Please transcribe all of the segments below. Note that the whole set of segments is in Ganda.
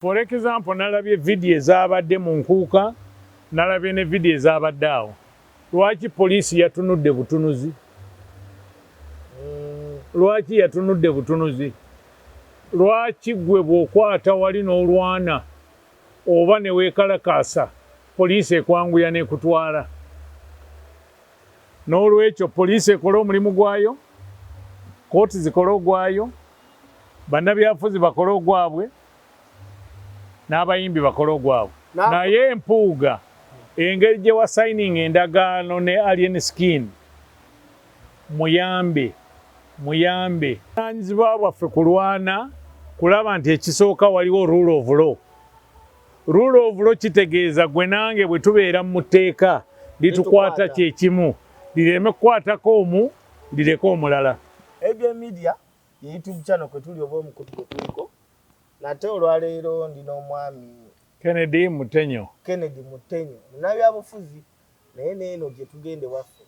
For example nalabye video ezabadde mu nkuuka nalabye ne video ezabadde awo lwaki police yatunudde butunuzi lwaki yatunudde butunuzi lwaki gwe bwokwata wali nolwana oba newekalakaasa police ekwanguya nekutwala nolwekyo police ekole omulimu gwayo kooti zikole ogwayo bannabyafuzi bakole ogwabwe n'abayimbi bakole ogwabwe naye Mpuuga engeri gye wa signing endagaano ne Alien Skin muyambe muyambe. Buvunaanyizibwa bwaffe kulwana kulaba nti ekisooka waliwo rule of law. Rule of law kitegeeza gwe nange bwe tubeera mu tteeka litukwata kye kimu lireme kukwatako omu lireke omulala. Ye YouTube channel kwe tuli oba omukutu gwe tuliko. Nate olwaleero ndi n'omwami. Kennedy Mutenyo. Kennedy Mutenyo. Munabyabufuzi naye neeno gye tugenda ewaffe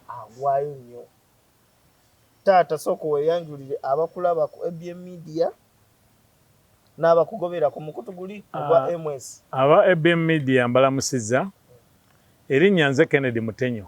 agwayo nnyo. Taata sooka weeyanjulire abakulaba ku ABM Media n'abakugobera ku mukutu guli ogwa ah, MS. Aba ABM Media mbalamusizza. Erinnya nze Kennedy Mutenyo.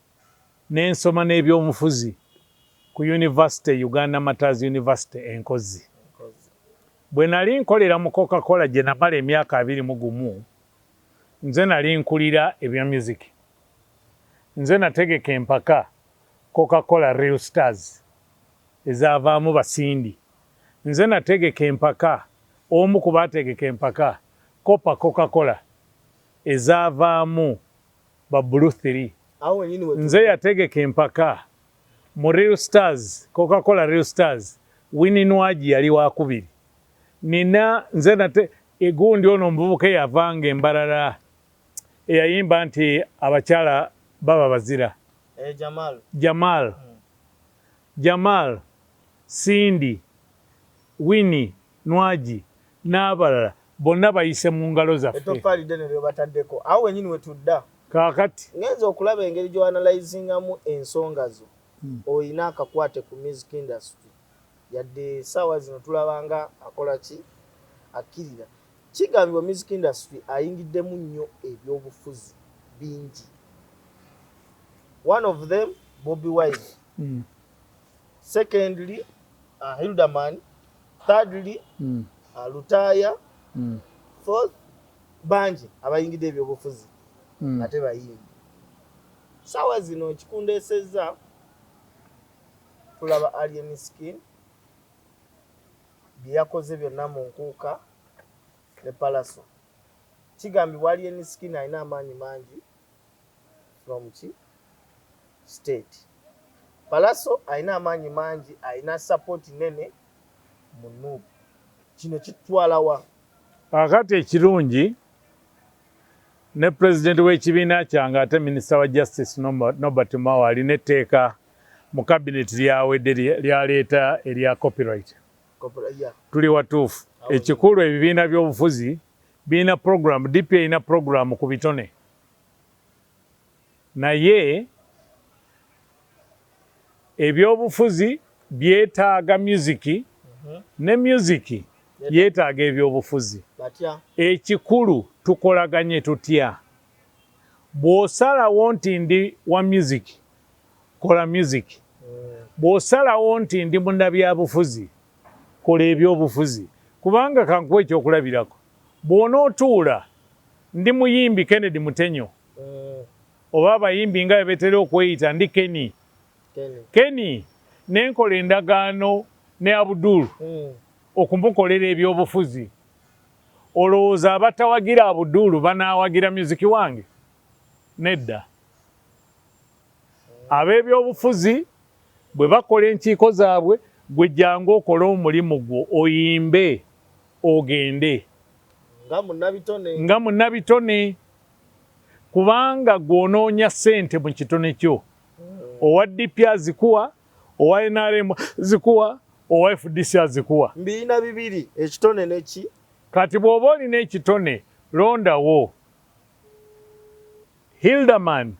nensoma n'ebyomufuzi ku yunivasite Uganda Martyrs University e Nkozi. Bwe nali nkolera mu Coca Cola gye namala emyaka abiri mu gumu, nze nali nkulira ebya music. Nze nategeka empaka Coca Cola Real Stars ezaavaamu ba Cindy. Nze nategeka empaka omu ku baategeka empaka Copa Coca Cola ezaavaamu ba blue three nze yategeka empaka mu real stars coca cola real stars wini nwagi yali wakubiri nina nze nate egundi ono omuvubuka eyavanga embarara eyayimba nti abakyala baba bazira eh, jamal jamal, hmm. jamal sindi wini Nwagi n'abalala bonna bayise mu ngalo zaffe. Ettoffaali ddene ly'obataddeko. Awo wennyini we tudda. Kaakati. Ngenze okulaba engeri gy'oanalyzingamu ensonga zo. Olina akakwate ku music industry. Yadde essaawa zino tulaba nga akola ki? Akkirira. Kigambibwa music industry ayingiddemu nnyo ebyobufuzi bingi. One of them Bobi Wine. secondly uh, hilderman thirdly mm. uh, lutaya mm. fourth bangi abayingidde ebyobufuzi mm. ate bayimbi sawa zino ekikundesezza tulaba alien skin byeyakoze byonna mu nkuuka ne palaso kigambibwa alien skin alina amaanyi mangi from ki state pallaso alina amaanyi mangi alina support nene mu nup kino kitutwalawa akati ekirungi ne president w'ekibiina kyange ate minister wa justice nobert mao alina etteeka mu cabinet lyawedde lyaleeta erya copyright tuli watuufu ekikulu ebibiina by'obufuzi Birina program, DP erina program ku bitone naye ebyobufuzi byetaaga myuziki mhm. ne myuziki yetaaga ebyobufuzi. Ekikulu tukolaganye tutya? Bw'osalawo nti ndi wa myuziki, kola myuziki. Mm. Bw'osalawo nti ndi munnabyabufuzi, Kola eby'obufuzi kubanga kankuwe eky'okulabirako bw'onootuula ndi muyimbi Kennedy Mutenyo oba abayimbi nga bwe betera okweyita ndi Kenny Kenny ne nkola endagaano ne Abdul hmm. okumukolera eby'obufuzi olowooza abatawagira Abdul banaawagira myuziki wange? Nedda. Ab'ebyobufuzi bwe bakola enkiiko zaabwe, ggwe jangu okole omulimu gwo, oyimbe, ogende. Nga munnabitone. Nga munnabitone. Kubanga ggwe onoonya ssente mu kitone kyo. Owa DP azikuwa, owa NRM azikuwa, owa FDC azikuwa. Mbirina bibiri, ekitone ne ki? Kati bw'oba olina ekitone, londawo. Hilderman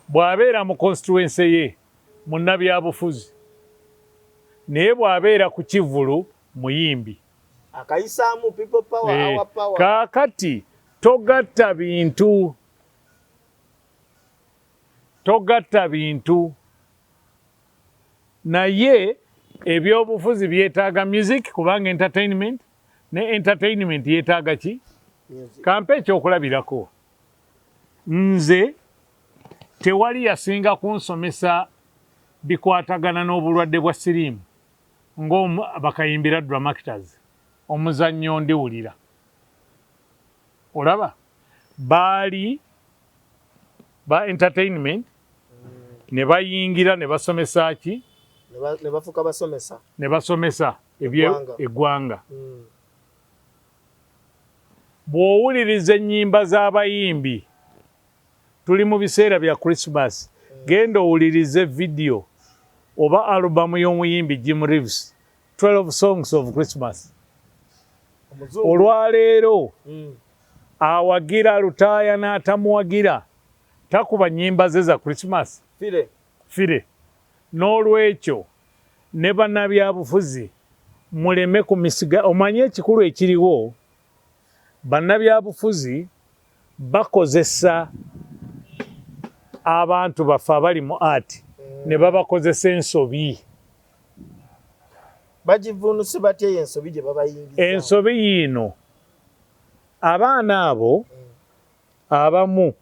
bw'abeera mu konsituwense ye munnabyabufuzi naye bw'abeera ku kivvulu muyimbi. Akayisaamu people power, eh, our power. Kaakati togatta bintu togatta bintu naye ebyobufuzi byetaaga music kubanga entertainment ne entertainment yetaaga ki kampe ekyokulabirako nze tewali yasinga kunsomesa bikwatagana n'obulwadde bwa siriimu ng'abakayimbira dramactors omuzannyo ndiwulira olaba baali ba entertainment ne bayingira ne basomesa ki ne bafuka basomesa ne basomesa ebye egwanga mm. bwowuliriza ennyimba z'abayimbi tuli mu biseera bya christmas mm. genda owulirize vidiyo oba alubamu y'omuyimbi jim reeves 12 songs of christmas olwaleero mm. awagira lutaaya n'atamuwagira takuba nyimba ze za christmas fire fire n'olwekyo ne banabyabufuzi muleme ku misiga omanye ekikulu ekiriwo Bannabyabufuzi bakozesa abantu baffe abali mu art ne mm. babakozesa ensobi. Bagivvuunuse batya eyo ensobi gye babayingiza? Ensobi yiino, abaana abo mm. abamu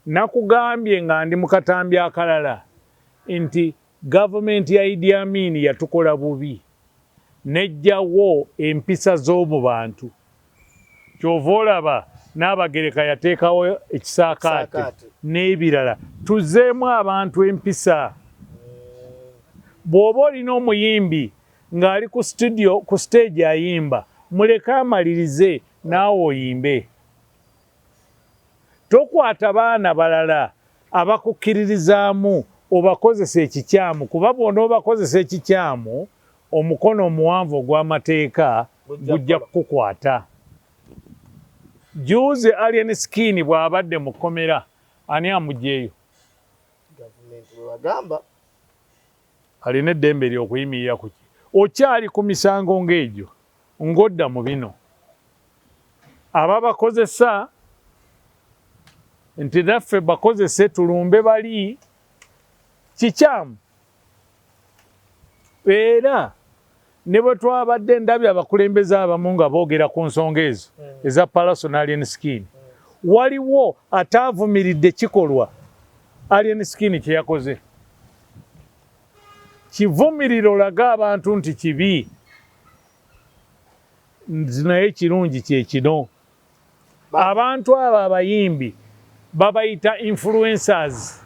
nakugambye nga ndi mu katambi akalala nti Government ya Idi Amin yatukola bubi nejja wo empisa zomubantu kyova olaba Nabagereka yatekawo ekisakaate nebirala tuzemu abantu empisa bwoba olina omuyimbi ngali ku studio ku stage ayimba muleke amalirize naawe oyimbe. Tokwata baana balala abakukkiririzaamu obakozese ekikyamu kuba bw'onoobakozesa ekikyamu, omukono omuwanvu ogw'amateeka gujja kukukwata. Jjuuzi Alien Skin bw'abadde mu kkomera, ani amuggyeeyo? Gavumenti bwe bagamba. Alina eddembe lye okuyimirira ku kye. Okyali ku misango ng'egyo ng'odda mu bino. Ababakozesa nti naffe bakozese tulumbe bali kikyamu era Ne bwe twabadde ndabye abakulembeze abamu nga boogera ku nsonga ezo hmm. eza Palaso ne Alien Skin, hmm. waliwo ataavumiridde kikolwa Alien Skin kye yakoze. Kivumirira olaga abantu nti kibi, naye ekirungi kye kino. abantu abo abayimbi babayita influencers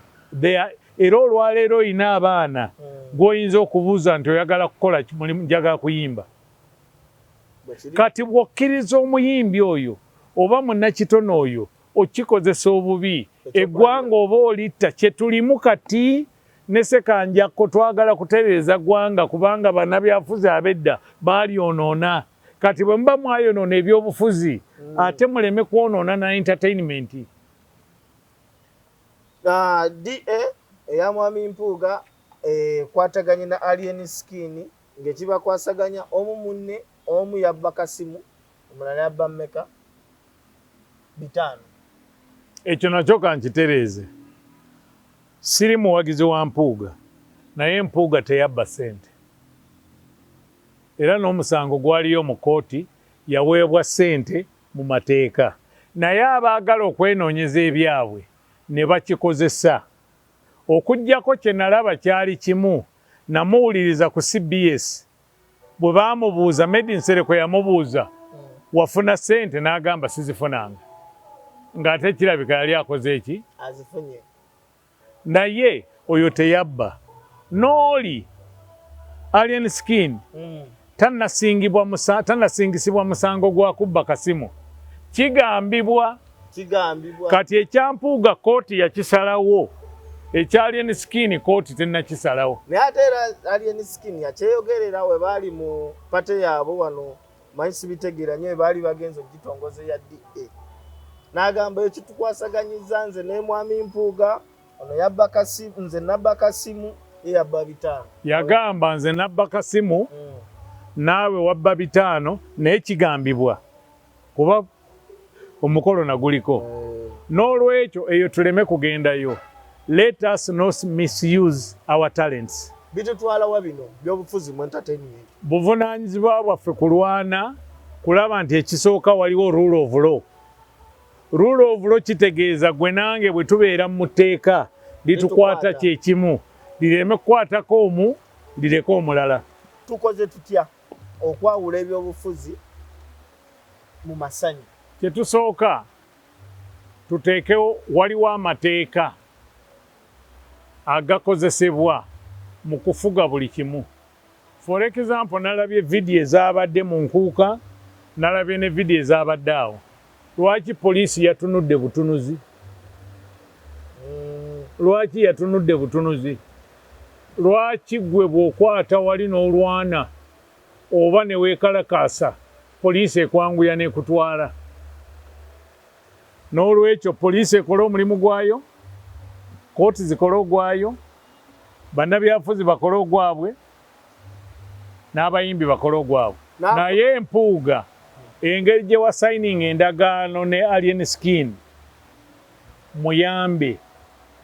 era olwaleero olina abaana hmm. gwoyinza okubuuza nti oyagala kukola njaga kuyimba kati bwokkiriza omuyimbi oyo oba munakitone oyo okikozesa obubi eggwanga oba olitta kyetulimu kati nesekanjakko twagala kutereeza ggwanga kubanga banabyafuzi abedda baalyonoona Kati bwe muba mwayonoona ebyobufuzi mm. ate muleme kwonoona na entertainment. Uh, DA eya mwami Mpuuga ekwataganye eh, na Alien Skin ng'ekibakwasaganya omu munne omu yabba kasimu omulala yabba mmeka bitaano. Ekyo nakyo kankitereeze. Siri muwagizi wa Mpuuga naye Mpuuga teyabba ssente. era n'omusango gwaliyo mu kkooti yaweebwa ssente mu mateeka naye abaagala okwenoonyeza ebyabwe ne bakikozesa. Okuggyako kye nalaba kyali kimu, namuwuliriza ku cbs bwe baamubuuza, Meddie Nsereko yamubuuza wafuna ssente n'agamba sizifunanga ng'ate kirabika yali akoze ki? Azifunye. Naye oyo teyabba. N'oli Alien Skin tanasingisibwa musango gwa kubba kasimu. Kigambibwa kati ekya Mpuuga kkooti yakisalawo, ekya Alien Skin kkooti tennakisalawo. Naye ate era Alien Skin yakyeyogerera we baali mu pate yaabwe wano. Manyi sibitegeera nyo ebaali bagenze ogitongoza eya DA. Nagamba ekitukwasaganyizza nze nemwami Mpuuga ono yabba kasimu nze nabba kasimu ye yabba bitaano. Yagamba nze nabba kasimu hmm. naawe wabba bitaano naye kigambibwa kuba omukolo naguliko nolwekyo eyo tuleme kugendayo let us not misuse our talents bitutwalawa bino byobufuzi mu entertainment buvunanyizibwa bwaffe kulwana kulaba nti ekisooka waliwo rule of law rule of law kitegeeza gwe nange bwe tubeera mu tteeka litukwata kyekimu lireme kukwatako omu lireke omulala tukoze tutya Okwawula ebyobufuzi mu masanyu. Kye tusooka tuteekewo, waliwo amateeka agakozesebwa mu kufuga buli kimu. For example nalabye video ezabadde mu Nkuuka, nalabye ne video ezabadde awo. Lwaki police yatunudde butunuzi? Lwaki yatunudde butunuzi? Lwaki gwe bwokwata wali nolwana oba newekalakaasa police ekwanguya nekutwala? Nolwekyo police ekole omulimu gwayo, court zikole ogwayo, banabyafuzi bakole ogwabwe, nabayimbi bakole ogwabwe. Naye Mpuuga engeri gyewa signing endagaano ne Alien Skin Muyambe,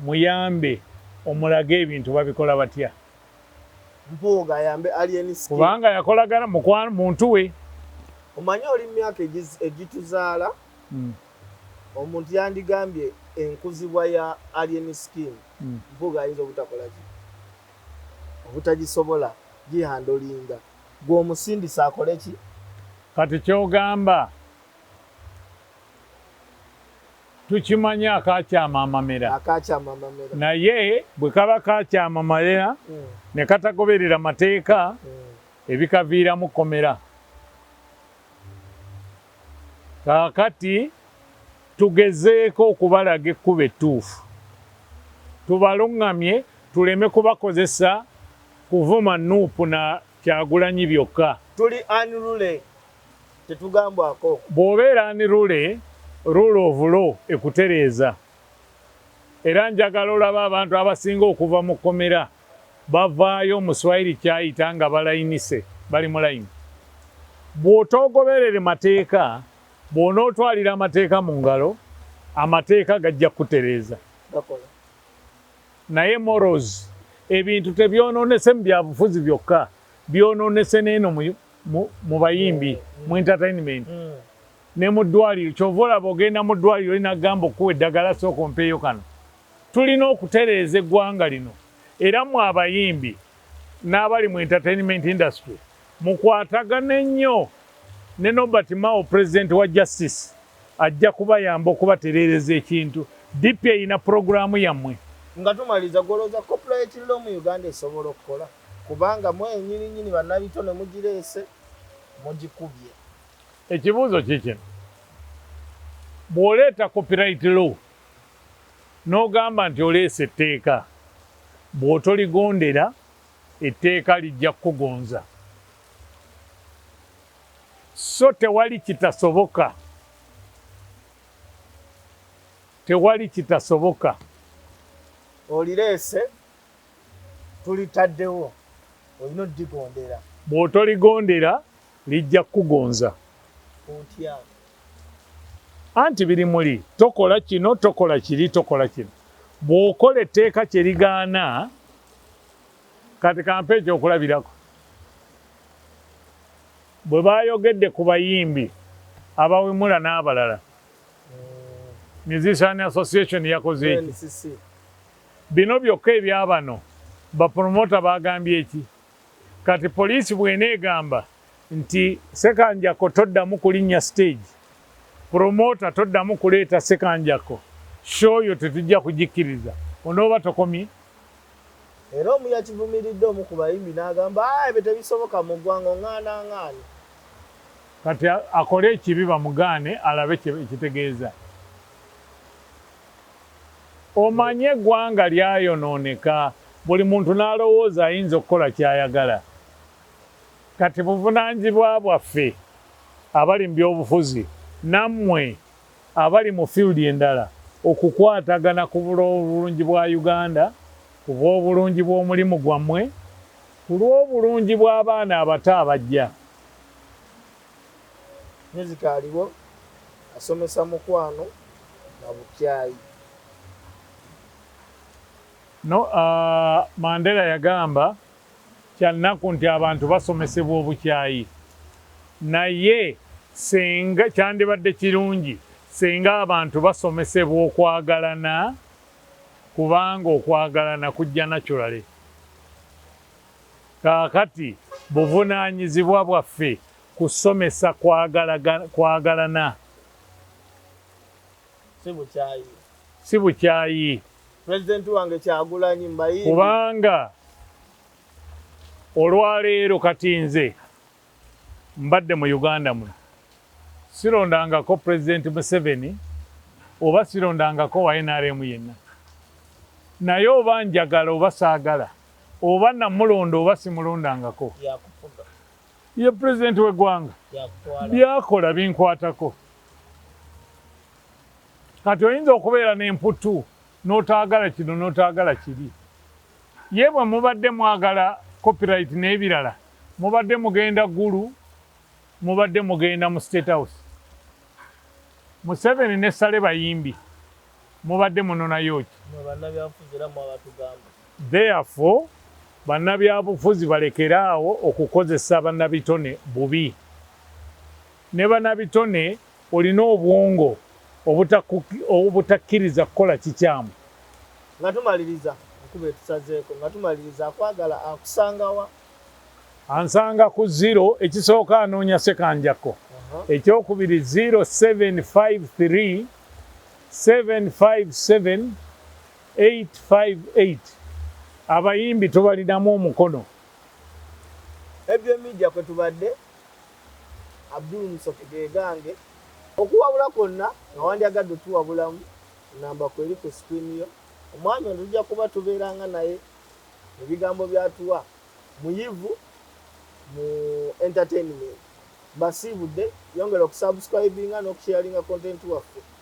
muyambe omulage ebintu babikola batya. Mpuuga ayambe alien skin. Kubanga yakolagana mukwano muntu we. Omanyi oli mumyaka egituzaala omuntu yandigambye enkuzibwa ya alien skin mpuuga ayinza obutakolaki obutagisobola gihandolinga gwe omusindise akoleki. Kati kyogamba tukimanyi akakyama amamera naye bwe kaba kakyama amamera hmm. ne katagoberera mateeka hmm. ebikaviiramu komera kaakati tugezeeko okubalaga ekkuba ettuufu tubaluŋŋamye tuleme kubakozesa kuvuma nuupu na Kyagulanyi byokka. Tuli unruly tetugambwako. Bwobeera unruly rule of law ekutereeza. Era njagala olabe abantu abasinga okuva mu komera bavaayo omuswayiri kyayita nga balayinise bali mu layini. Bwotoogoberere mateeka bwonootwalira amateeka mu ngalo amateeka gajja kukutereeza. Gakola. Naye morals ebintu tebyononese mu byabufuzi byokka byononese neeno mu mu bayimbi mu entertainment mm. ne mu ddwaliro kyova olaba ogenda mu ddwaliro olina kugamba okuwa eddagala sooka ompeeyo kano tulina okutereeza eggwanga lino era mu abayimbi n'abali mu entertainment industry mukwatagane nnyo ne nobert mao president wa justice Ajja kubayamba okubatereereza ekintu. DP erina pulogulaamu yammwe. Nga tumaliza, gwe olowooza copyright law mu Uganda esobola okukola? Kubanga mwenyini nyini bannabitone mugireese, mugikubye. Ekibuuzo kiikino, bw'oleeta copyright law n'ogamba nti oleese etteeka, bw'otoligondera etteeka lijja kukugonza. So tewali kitasoboka, tewali kitasoboka. Olireese, tulitaddewo, olina oddigondera. Bw'otoligondera, lijja kukugonza. Otya? Anti biri muli, tokola kino, tokola kiri, tokola kino. Bw'okola etteeka kye ligaana, Kati kampe ekyokulabirako. Bwe baayogedde ku bayimbi abawemula n'abalala, Musician Association yakoze ki? NCC. Bino byokka ebya bano bapromota baagambye ki? Kati poliisi bw'eneegamba nti. Ssekanjakko toddamu kulinnya siteegi, promoota toddamu kuleeta Ssekanjakko, show yo tetujja kugikkiriza, onooba tokomye? Era omu yakivumiridde omu ku bayimbi n'agamba, Haa ebyo tebisoboka mu ggwanga, ong'aana ng'ani? Kati akole ekibi bamugaane alabe kye kitegeeza. Omanyi eggwanga lyayonooneka buli muntu n'alowooza ayinza okukola ky'ayagala. Kati buvunaanyizibwa bwaffe abali mu byobufuzi nammwe. abali mu field endala okukwatagana ku bw'obulungi bwa Uganda, ku bw'obulungi bw'omulimu gwamwe, ku lw'obulungi bw'abaana abato abajja. Music aliwo asomesa mukwano na bukyayi. No, uh, Mandela yagamba Kya nnaku nti abantu basomesebwa obukyayi naye singa kyandibadde kirungi singa abantu basomesebwa okwagalana kubanga okwagalana kujja naturally. Kaakati buvunaanyizibwa bwaffe kusomesa kwagalana si bukyayi. President wange kyagulanyi mbayimbi. Kubanga olwaleero kati nze mbadde mu Uganda muno sirondangako president Museveni oba sirondangako wa nrm yenna naye oba njagala oba saagala oba namulonda oba simulondangako ye president wegwanga byakola binkwatako. Kati oyinza okubeera n'emputtu n'otaagala kino n'otaagala kiri. Ye bwe mubadde mwagala copyright n'ebirala mubadde mugenda Gulu, mubadde mugenda mu State House. Museveni ne Saleh bayimbi, mubadde munonayo ki? Mmwe bannabyabufuzi era mmwe abatugamba. Therefore, bannabyabufuzi balekere awo okukozesa bannabitone bubi. Ne banabitone olina obwongo obutakkiriza kukola kikyamu. Nga tumaliriza, enkuba etusazeeko. Nga tumaliriza, akwagala akusanga wa? Ansanga ku ziro, ekisooka anoonya Ssekanjakko, ekyokubiri ziro seven five three seven five seven eight five eight. Abayimbi tubalinamu omukono. Ebyo Media kwe tubadde. Abdul Musoke ge gange. Okuwabula kwonna nga wandyagadde otuwabulamu, nnamba ku eri ku screen yo. Omwami ono tujja kuba tubeeranga naye mu bigambo by'atuwa. Muyivu mu entertainment. Mbasiibudde. Yongera okusubscribinga n'okusharinga content waffe.